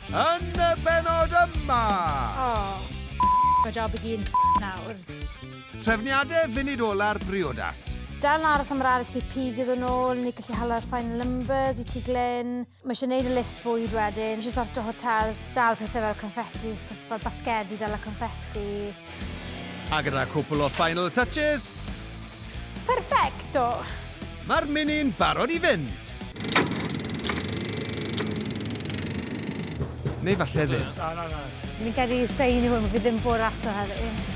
Yn y bennod yma! O, mae job i gyd nawr. Trefniadau funud ola'r briodas. Dal yn aros am yr RSVP i ddod yn ôl, neu gallu hala'r final numbers i ti Glyn. Mae eisiau gwneud y list bwyd wedyn, eisiau sorto hotel, dal pethau fel confetti, stwff fel basgedi, dal y confetti. A gyda cwpl o final touches, Perfecto! Mae'r mini'n barod i fynd! Neu falle ddim. Na, na, na. Fi'n credu sa un i hwn, fi ddim bod rhasio heddi.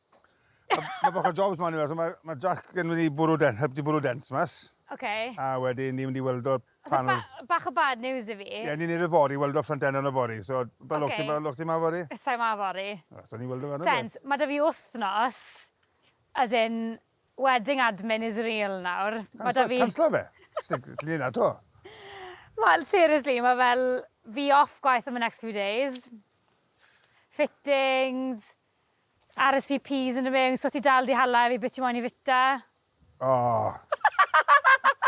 Mae bach o jobs ma'n yw, so mae ma Jack yn mynd i bwrw den, helpu bwrw dents mas. Okay. A wedyn ni'n mynd i weld o'r panels. So ba, bach o bad news i fi. Ie, yeah, ni'n neud y fori, weld o'r ffrant enw yn y fori. So, ba okay. lwc ti, ba lwc ti ma fori? Sa'i ma fori. Ah, so ni'n weld o fan Sens, mae da fi wythnos, as in, wedding admin is real nawr. Cansla, fi... cansla fe. Lli na to. Wel, seriously, mae fel fi off gwaith am y next few days. Fittings, RSVPs yn y mewn, so ti dal di hala efi be ti moyn i fita? Ohh!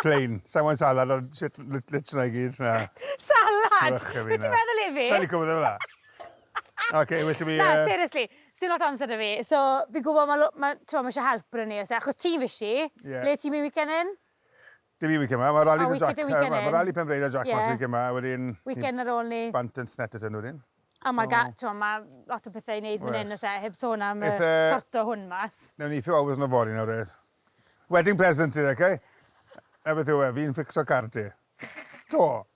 Plain. Sai moyn salad ond shit lit lit na i gyd na. Salad! Be ti meddwl efi? Sai lico pethe fela. Ok, well i fi yy... Na, seriously, sdim lot o amser da fi, so fi'n gwbo ma' lo- ma' t'mo' ma' ishe help brynu a pethe, achos ti'n fishi. Ie. Le ti'n myn' weekend hyn? Dydd Weekend yma, mae Rali Jac... Weekend yma, mae Rali Penfreid a Jac mas y weekend yma, a wedyn... Weekend ar ôl ni. ...bant yn Snetterton wedyn. A mae ga-... T'mo' ma' lot o pethe i neud fan 'yn o's e, heb sôn am yy sorto hwn mas. Newn ni few hours yn y fory nawr oes? Wedding present i ti, ok? 'Na beth yw e, fi'n fficso car ti. 'To!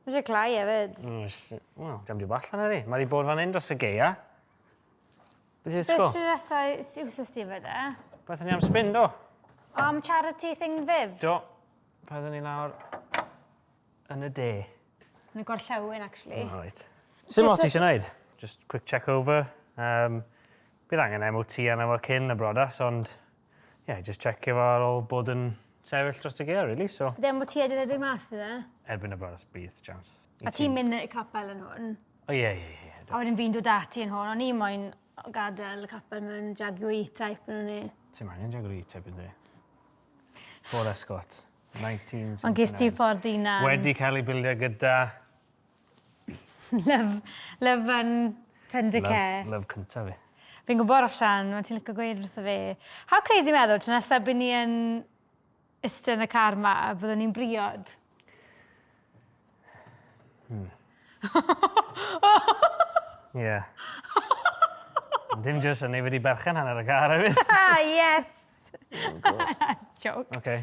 Mae eisiau cloi hefyd. Mm, sh- wel, dim byd allan ar ei. Mae wedi bod fan hyn dros y geia. Beth i'n ysgol? Beth ti'n rethau siwsys ti fydde? Beth ni am spin, do? Am charity thing fyf? Do. Paddyn ni lawr yn y de. Yn y gorllewin, actually. Oh, right. Sut mor ti eisiau gwneud? Just quick check over. Um, bydd angen MOT arno fo cyn y brodas, ond Ie, jyst checio fo ar ôl bod yn sefyll dros y gaeaf, really, so... Bydd e'n bod ti edrych edrych mas, bydd e? Erbyn y bore, bydd, chance. A ti'n mynd i'r capel yn hwn? O, ie, ie, ie. A wedyn fi'n dod ati yn hwn, o'n i moyn gadael y capel mewn Jaguar E-Type yn hwn i. Ti'n maen i'n Jaguar E-Type yn di? Ford Escort, 1979. Ond gys ti ffordd un am... Wedi cael ei bildio gyda Love, love yn tender care. Love, love cynta fi. Fi'n gwybod Roshan, mae'n ti'n licio gweud wrtho fi. How crazy meddwl, ti'n nesaf byd ni yn ystod yn y car ma, byddwn ni'n briod. Hmm. yeah. Dim jyst yn ei wedi berchen hanner y car hefyd. Ah, yes! Oh, Joke. Okay.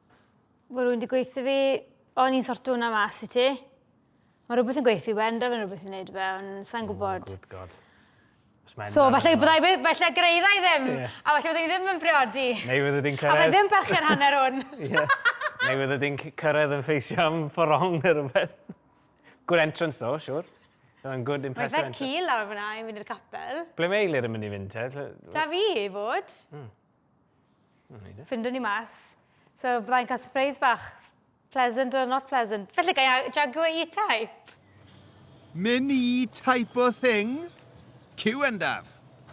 Mae rwy'n di gweithio fi, o'n i'n sorto hwnna mas i ti. Mae rhywbeth yn gweithio i wenda fe'n rhywbeth yn neud fe, ond sa'n oh, gwybod. Oh, good God. So, falle byddai fe, falle greiddai ddim, yeah. a falle byddai ddim yn priodi. Neu fydde di'n cyrraedd... A fe ddim berchen hanner hwn. yeah. Neu fydde di'n cyrraedd yn ffeisio am fforong neu rhywbeth. Good entrance though, sure. Mae'n good impressive entrance. Mae fe cil lawr fyna i fynd i'r capel. Ble mae Eilir yn mynd i fynd te? Da fi i fod. Mm. Findwn ni mas. So bydda i'n cael surprise bach. Pleasant or not pleasant. Felly ga i Jaguar E-Type? Min i type o thing? Cyw yndaf.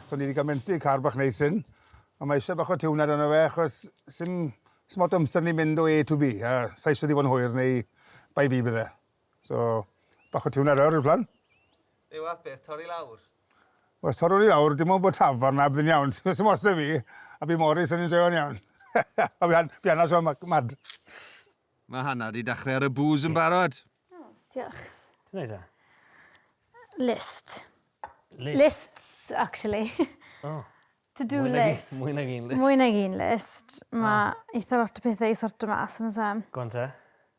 So ni di cael mentu car bach neis hyn. Ond mae eisiau bach o tiwnad arno fe achos sim lot o amser ni'n mynd o A to Bee a sa i eisiau iddi fod yn hwyr neu bai fi bydd e. So, bach o tiwn ar lawr i'r plan. Be fath beth, torri lawr? Os torrwn i lawr, dim ond bod tafarn a byddwn iawn. Sy'n os da fi, a bu Morris yn enjoyo'n iawn. a fi anna sio mad. Mae Hannah di dachrau ar y booze yn barod. Oh, diolch. Ti'n neud e? List. List. Lists, actually. Oh. To do list. Mwy nag un list. Mwy nag un list. Mae oh. eitha lot o pethau i sortio mas yn y sam. Gwan te.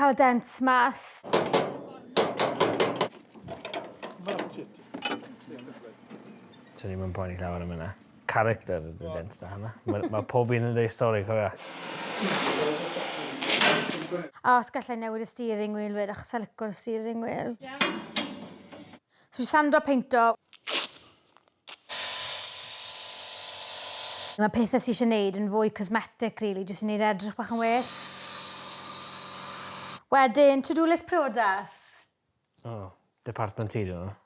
cael y dent mas. Swn i'n mynd poeni llawer am yna. Character y dent da hynna. Mae ma pob un yn dweud stori, cofio. A os gallai newid y steering wheel wed, achos sa licor y steering wheel. Yeah. So fi sando a peinto. Mae pethau sy eisiau neud yn fwy cosmetic rili, jyst i neud e edrych bach yn well. Wedyn, to-do list priodas. O, department ti dwi meddwl.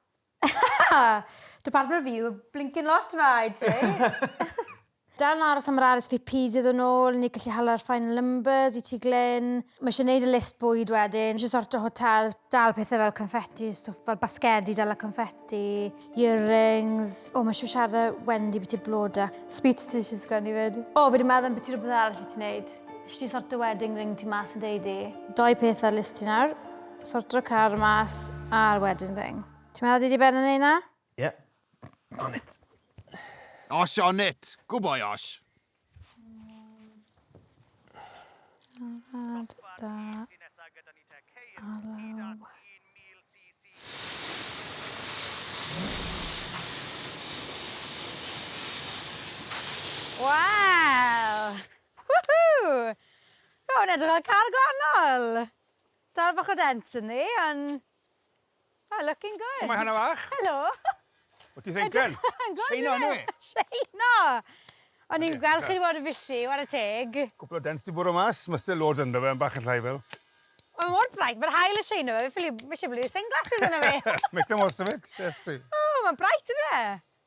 Department fi yw blincin lot ma, I'd say. Dal yn aros am yr RSVP dydd yn ôl, ni'n gallu hala'r final numbers i ti Glyn. Mae eisiau neud y list bwyd wedyn, eisiau sorto hotels, dal pethau fel confetti, stwff fel basgedi dal a confetti, earrings. O mae eisiau siarad â Wendy byti bloda. Speech ti eisiau sgrennu fyd. O fi di meddwl ambyti rhywbeth arall i ti neud. Eisiau ti sorto wedding ring ti mas yn dy ddu. Doi peth ar list ti nawr, sorto'r car mas a'r wedding ring. Ti'n meddwl dydy Ben yn neud na? Ie. On it. Osh on it! Good boy Osh. Siarad da Alaw. Waw! Woohoo! Mae hwn edrych fel car gwahanol! Dal bach o dents ynddi, ond Oh, looking good. Shwmae Hana fach? Helo. Wyt ti ddegen? Seino hynny? Seino! O'n i'n gweld chi wedi bod yn busy, war y teg. Cwpl o dens di bwrw mas, mae still loads ynddo fe, yn bach yn llai fel. Mae mor bright, mae'r hael yn seino fe, fi ffili, mae eisiau bod yn sunglasses yna fe. Make the most of it, yes. Oh, mae'n bright yna.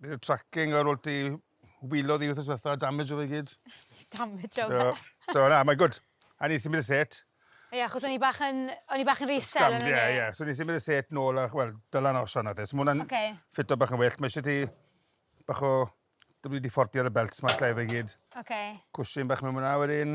Bydd y tracking ar ôl ti wilo ddi wythnos diwetha, damage o fe gyd. damage o fe. So, so na, mae'n gwrdd. A ni'n symud y set. Ie, yeah, achos o'n i bach yn, o'n i bach yn resell yn y Ie, ie. So ni'n symud y set nôl a, wel, dylan osio'n adde. So mwna'n okay. ffito bach yn well. Mae eisiau ti bach o... Dwi wedi ffordio'r y belts ma'n lle fe gyd. Okay. Cwsyn bach mewn mwna wedyn.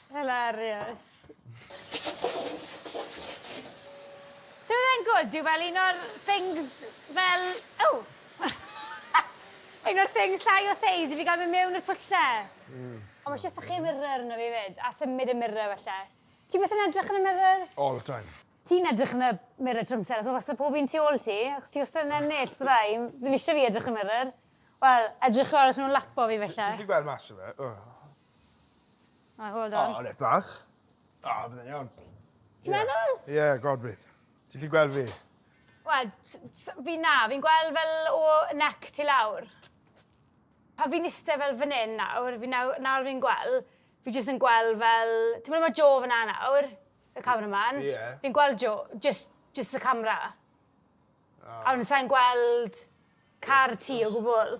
Hilarious. Dyw e ddim good, dyw fel un o'r things fel... O! un o'r things llai o seis i fi gael mynd mewn y twlle. Mm. Ond mae eisiau sychu mirror arno fi fyd, a symud y mirror falle. Ti byth yn edrych yn y mirror? All the time. Ti'n edrych yn y mirror trwy amser, achos mae wastad pob un tu ôl ti, achos ti wastad yn ennill, bydda i. Ddim eisiau fi edrych yn y mirror. Wel, edrychwch os nhw'n lapo fi falle. Ti wedi gweld mas o fe? Right, well done. O, reit bach. O, bydd e'n iawn. Ti'n meddwl? Ie, yeah, god bydd. Ti'n fi gweld fi? Wel, fi na, fi'n gweld fel o nec ti lawr. Pa fi'n iste fel fan hyn nawr, fi nawr, nawr fi'n gweld, fi jyst yn gweld fel... Ti'n meddwl mae Jo fyna nawr, y cameraman? Ie. Yeah. Fi'n gweld Jo, jyst, jyst y camera. Oh. A wedyn sa'n gweld car ti o gwbl.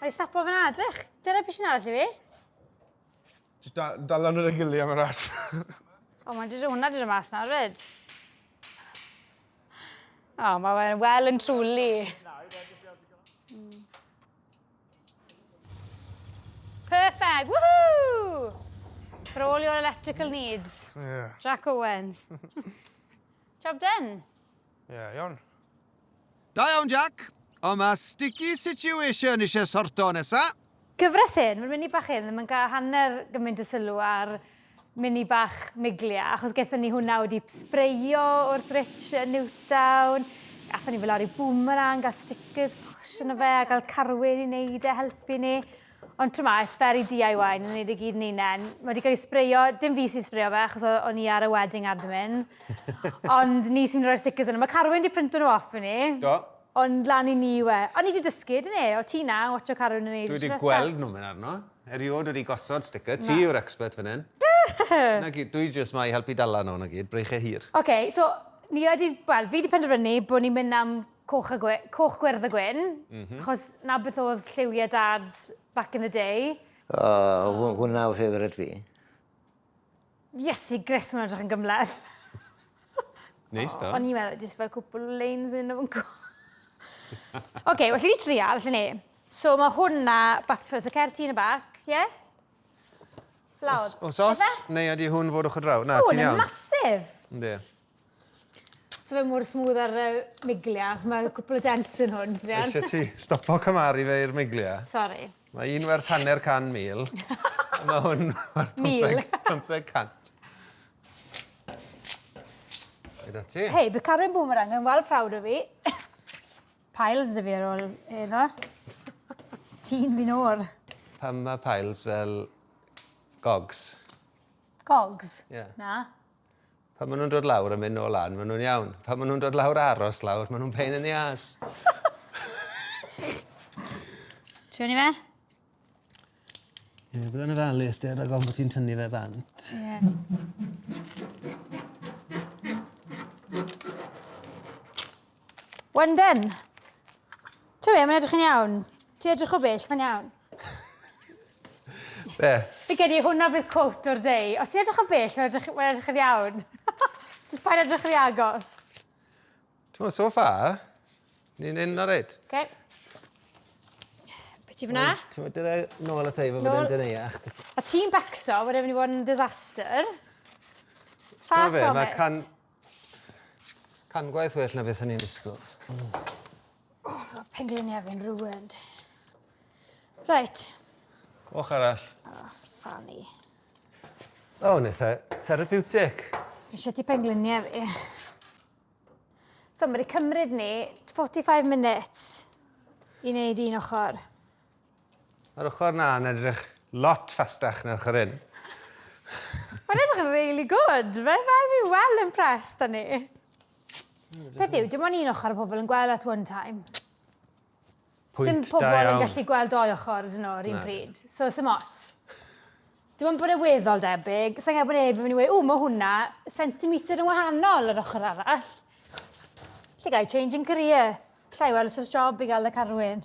Mae stapo fan adrych. Dyna beth sy'n arall i fi. Just da, dal lan yn y gili am y ras. o, mae'n dydw hwnna dydw mas nawr, ryd. O, mae fe'n well and truly. Mm. Perfect, woohoo! For all your electrical needs. Yeah. Jack Owens. Job done. Ie, iawn. Da iawn, Jac. Ond mae sticky situation eisiau sorto nesa. Cyfres hyn, mae'r mini bach hyn ddim yn cael hanner gymaint o sylw ar mini bach Miglia, achos gaethon ni hwnna wedi sbreio o'r bridge yn Newtown, gaethon ni fel lori boomerang, gael stickers posh yna fe, a gael carwyn i wneud e, helpu ni. Ond t'mo, it's very DIY, ni'n neud e gyd yn unen. Mae wedi cael ei sbreio, dim fi sy'n sbreio fe, achos o'n i ar y wedding admin. Ond ni sy'n rhoi'r stickers yna. Mae Carwyn wedi printo nhw off i ni. Do. Ond lan i ni yw e. Ond ni wedi dysgu, dyn ni? O ti na, watcho Carwyn yn neud y Dwi wedi gweld nhw'n mynd arno. Eriod wedi gosod sticker. Ti yw'r expert fan hyn. Na gyd, dwi jyst ma i helpu dala nhw, na gyd. Breichiau hir. Oce, so ni wedi... Wel, fi wedi penderfynu bod ni'n mynd am Coch, a gwe, coch gwyrdd a gwyn, mm -hmm. chos na beth oedd lliwiau dad back in the day. Oh, oh. hwnna o ffefryd fi. Iesu Gris, mae'n edrych yn gymleth. Neis da. O'n i'n meddwl, jyst fel cwpl o leins mynd o'n gwa. Oce, well, ni trial, lle ni. So mae hwnna back to first. So certi yn y bac, ie? Yeah? Flawd. Os, os, neu ydy hwn fod o'ch o draw? Na, ti'n iawn. Hwn yn masif. Ynddi. So fe mor smooth ar y miglia. Mae cwpl o dents yn hwn, Drian. Eisiau ti stopo cymaru fe i'r miglia? Sorry. Mae un werth hanner can mil. mae hwn werth 500. Hyd at ti. Hei, bydd Carwyn Boomerang yn wal prawd o fi. Piles dy fi ar ôl yno. Ti'n fi'n o'r. Pam mae piles fel gogs? Gogs? Yeah. Na. Pan ma' nw'n dod lawr a myn' nôl lan ma' nw'n iawn. Pan ma' nw'n dod lawr a aros lawr ma' nw'n pain yn ddi âs. Tynnu fe? Ie bod yn ofalus 'de rag ofn bo' ti'n tynnu fe bant. Ie. One done. Ti'n gwybod, mae'n edrych yn iawn. Ti'n edrych o bell, mae'n iawn. Be? Fi gedi i hwnna bydd cwt o'r deu. Os ti'n edrych o bell, mae'n edrych, mae edrych yn iawn. Just pa'n edrych yn agos. Ti'n gwybod, so far, ni'n un ar eid. Okay. Be ti fyna? Ti'n gwybod, dyna nôl at ei fod yn dyn ei ach. A ti'n becso, mae'n edrych yn disaster. Far from it. Can gwaith well na beth o'n i'n disgwyl. Mm. Oh, mae pengliniau fi'n ruined. Reit. Coch arall. Oh, ffani. O, oh, neu therapeutic. Eisiau ti pengliniau fi. So, mae'n cymryd ni 45 minutes i wneud un ochr. Yr ochr 'na yn edrych lot fastach na'r ochr hyn. Mae'n edrych yn really good. Mae fel fi well impressed â ni. Peth yw, dim ond un ochr y pobl yn gweld at one time. Pwynt Sim pobl da yn gallu gweld doi ochr ydyn nhw, rhywun pryd. So, sim ots. Dim ond bod e weddol debyg. Sa'n gael bod neb yn mynd i weud, o, mae hwnna centimetr yn wahanol yr ochr arall. Lle gael changing career. Llai well os job i gael y carwyn.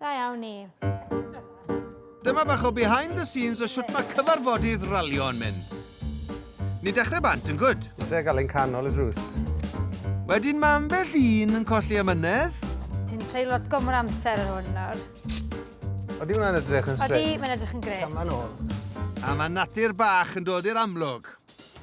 Da iawn ni. Dyma bach o behind the scenes o siwt mae cyfarfodydd ralio yn mynd. Ni dechrau bant yn gwyd. Tre gael ein canol y drws. Wedyn mae ambell un yn colli amynedd. Ti'n treulio lot gomor amser yn hwn nawr. Oeddi hwnna'n edrych yn straight? Oeddi, mae'n edrych yn gret. Cam yn ôl. A mae natur bach yn dod i'r amlwg.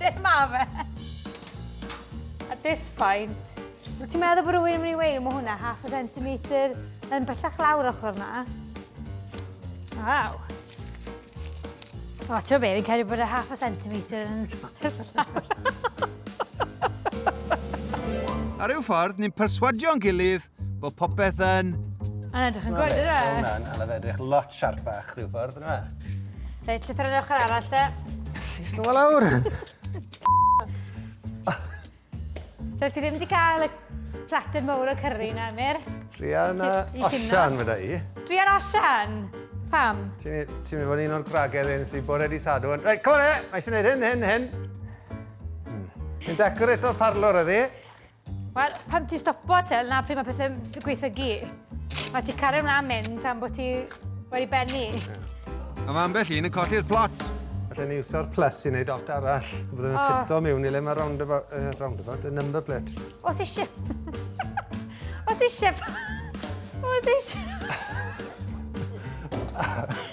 Diolch, ma fe. At this point, wyt ti'n meddwl bod rhywun yn mynd i weid, mae hwnna half a centimetre yn bellach lawr ochr na? Waw. O, ti'n be, fi'n cael ei bod y half a centimetre yn Ar ryw ffordd, ni'n perswadio'n gilydd bod popeth yn... Mae'n edrych yn gwrdd, yna? Mae hwnna'n anodd edrych lot siarpach rhyw ffordd, yna? Reit, llythyr yn ochr arall, de. Sis nhw lawr. Dwi ti ddim wedi cael y plater mawr o cyrru na, Emyr? Drian a Osian, fydda i. Drian a Osian? Pam? Ti'n mynd fod un o'r gwragedd un sy'n bod wedi sadw. Reit, come on e! Mae eisiau gwneud hyn, hyn, hyn. Yn hmm. decorator parlor ydi. Wel, pam ti stopo te, na pryd mae pethau'n gweithygu. Mae ti cario mlaen mynd tan bod ti wedi bennu. A mae ambell un yn colli'r plot. Felly ni iwsio'r plus i wneud dot arall. Byddwn yn oh. ffito mewn i le mae roundabout, uh, roundabout, y number plate. Os eisiau... Os eisiau... Os eisiau...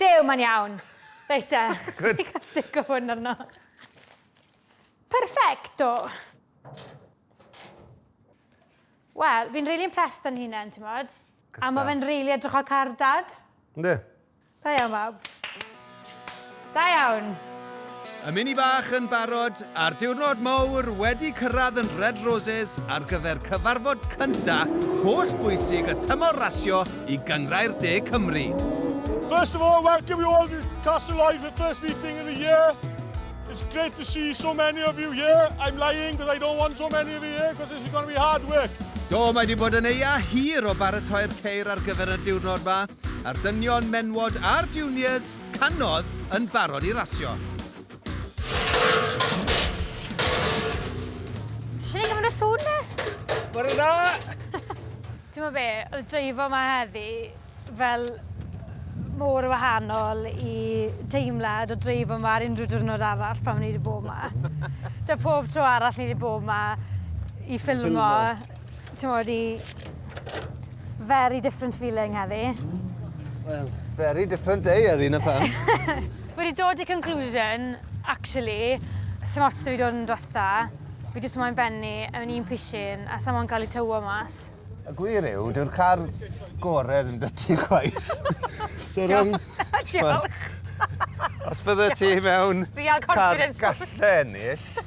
Dew, mae'n iawn. Reit te. Good. Ti'n cael stick o hwn arno. Perfecto. Wel, fi'n really impressed yn hunain, ti'n modd. A mae fe'n really edrych o'r car dad. Ynddi. Da iawn, fab. Da iawn! Y mini bach yn barod, a'r diwrnod mowr wedi cyrraedd yn Red Roses ar gyfer cyfarfod cynta holl bwysig y tymor rasio i Gynghrair De Cymru. First of all, welcome you all to Castle Live for the first meeting of the year. It's great to see so many of you here. I'm lying because I don't want so many of you here because this is going to be hard work. Do, mae wedi bod yn eia hir o baratoi'r ceir ar gyfer y diwrnod yma, a'r dynion, menwod a'r juniors Canodd yn barod i rasio. Ti'n ei gymryd y sŵn ne? Bore da! Ti'n ma be, oedd dreifo ma heddi fel mor wahanol i deimlad o dreifo ma ar unrhyw diwrnod arall pan o'n i wedi bod ma. Da pob tro arall ni wedi bod ma i ffilmo. Ti'n modd i... Very different feeling heddi. Wel, very different day heddi, na pan. Wedi dod i conclusion, actually, sy'n ots da fi dod yn dwetha. Fi jyst moyn benni yn un pishin a sy'n moyn cael ei tywo mas. Y gwir yw, dyw'r car gore ddim dy ti chwaith. so rhwng... Diolch! Os bydde ti mewn car gallen ill,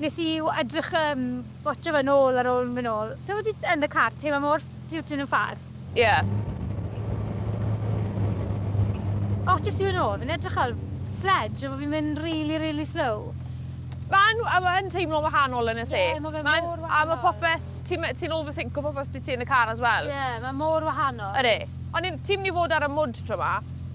Nes i edrych yym watsio fe nôl ar ôl myn nôl. T'mo' ti yn y car teimlo mor fft- ti w- ti myn' yn fast. Ie. O jyst yw e nôl fi'n edrych fel sledge a bo' fi'n mynd rili rili slow. Ma'n a ma' yn teimlo'n wahanol yn y set. Ie ma' fe mor wahanol. Ma'n a ma' popeth ti me- ti'n overthinco popeth pryd ti yn y car as well. Ie ma' mor wahanol. Ydi. O'n i'n ti myn' i fod ar y mwd tro 'ma?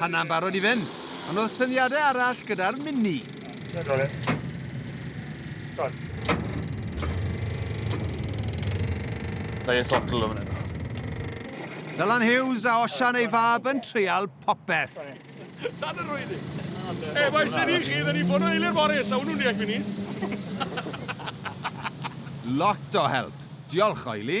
Hanna'n barod i fynd, ond oedd syniadau arall gyda'r mini. Mae ei sotl o fan hyn. Dylan Hughes a Osian ei fab yn treial popeth. Sad yr oedd i. E, mae sy'n i chi, dyn ni'n bod o eilir bore, sa hwnnw'n deall minis. Lot o help. Diolch, Oili.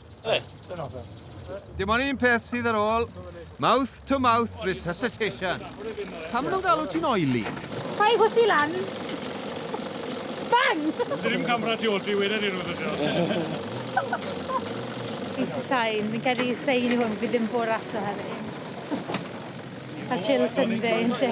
Dim ond un peth sydd ar ôl, mouth to mouth resuscitation. Pam maen nhw'n galw ti'n oily? Pa'i gwrthi lan. Bang! Ti ddim camera ti ôl ti wedi ni rhywbeth ydio. Sain, fi'n cael ei sain i hwn, fi ddim bod raso hefyd. A chill Sunday, yn lle.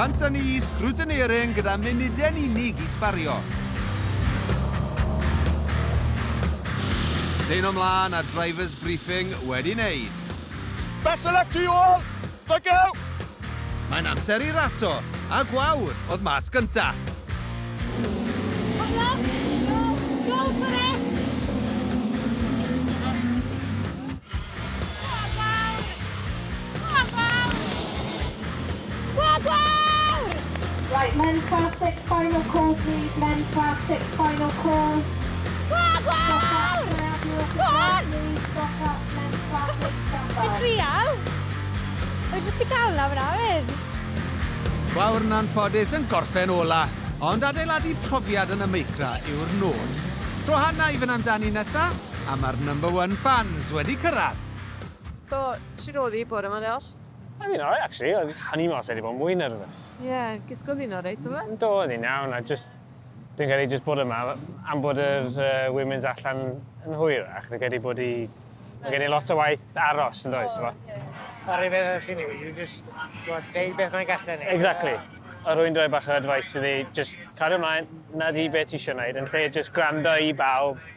Anthony Scrutineering gyda munudau'n unig i sbario. Teino mlaen a drivers briefing wedi wneud. Best of luck to you all! Thank you! Mae'n amser i raso, a gwawr oedd mas gynta. Come on, go, go for it! Right, men class six final call please, men class six final call. Gwag wawr! Go on! Ti'n trial? Wyt ti'n cael na fyna fyd? Gwawr na'n ffodus yn gorffen ola, ond adeiladu profiad yn y meicra yw'r nod. Tro hana i fynd amdani nesa? A mae'r number one fans wedi cyrraedd! So, shwt oedd hi bore ma Josh? Oedd hi'n alright actually, oedd o'n i'n meddwl se 'di bod yn mwy nervous. Ie, gwisgo ddi'n alright do fe? Do, oedd hi'n iawn a jyst, dwi'n credu jyst bod yma am bod yr yy women's allan yn hwyrach, fi'n credu bod hi, ma' gen i lot o waith aros yn does, t'mo'? Yr un peth â ni, you just, t'mod, neud beth mae'n gallu neud. Exactly. A rwy'n rhoi bach o advice iddi, jyst cario mlaen, 'na di be' ti isio neud, yn lle jyst gwrando i bawb,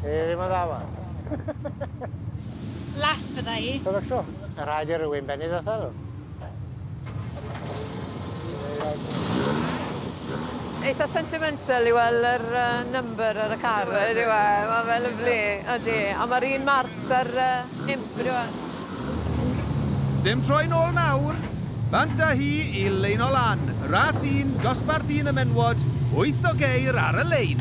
Ti ddim yn dda yma. Las fydda i. Ti'n becso? Mae'n rhaid i rywun bennu drosta nhw. Eitha sentimental i weld yr number ar y car, ydyw e? Mae fe lyfli, ydy. A mae'r un marks ar imp, ydyw e? Sdim troi nôl nawr. Bant â hi i lein o lan, ras un, dosbarth un y menywod, wyth o geir ar y lein.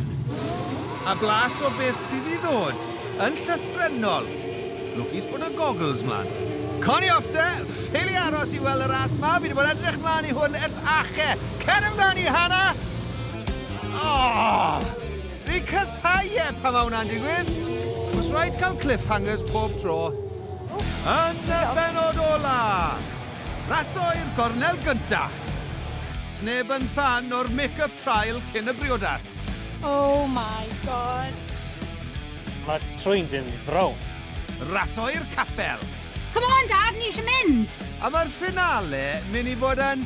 A blas o beth sydd i ddod, yn llythrennol. Lwcus bod y goggles mlan. Cawn ni off te, ffili aros i weld y ras ma, fi 'di bod edrych mlan i hwn ers ache! Cer amdani, Hannah! Ohh! Fi'n casáu e pan mae hwnna'n digwydd! Os rhaid cael cliffhangers pob tro. Yn y bennod ola! Raso i'r gornel gynta! Sneb yn ffan o'r make-up trial cyn y briodas. Oh my God! Mae trwy'n dyn frown. Raso i'r capel! Come on Dad, ni eisiau mynd! A mae'r finale mynd i fod yn...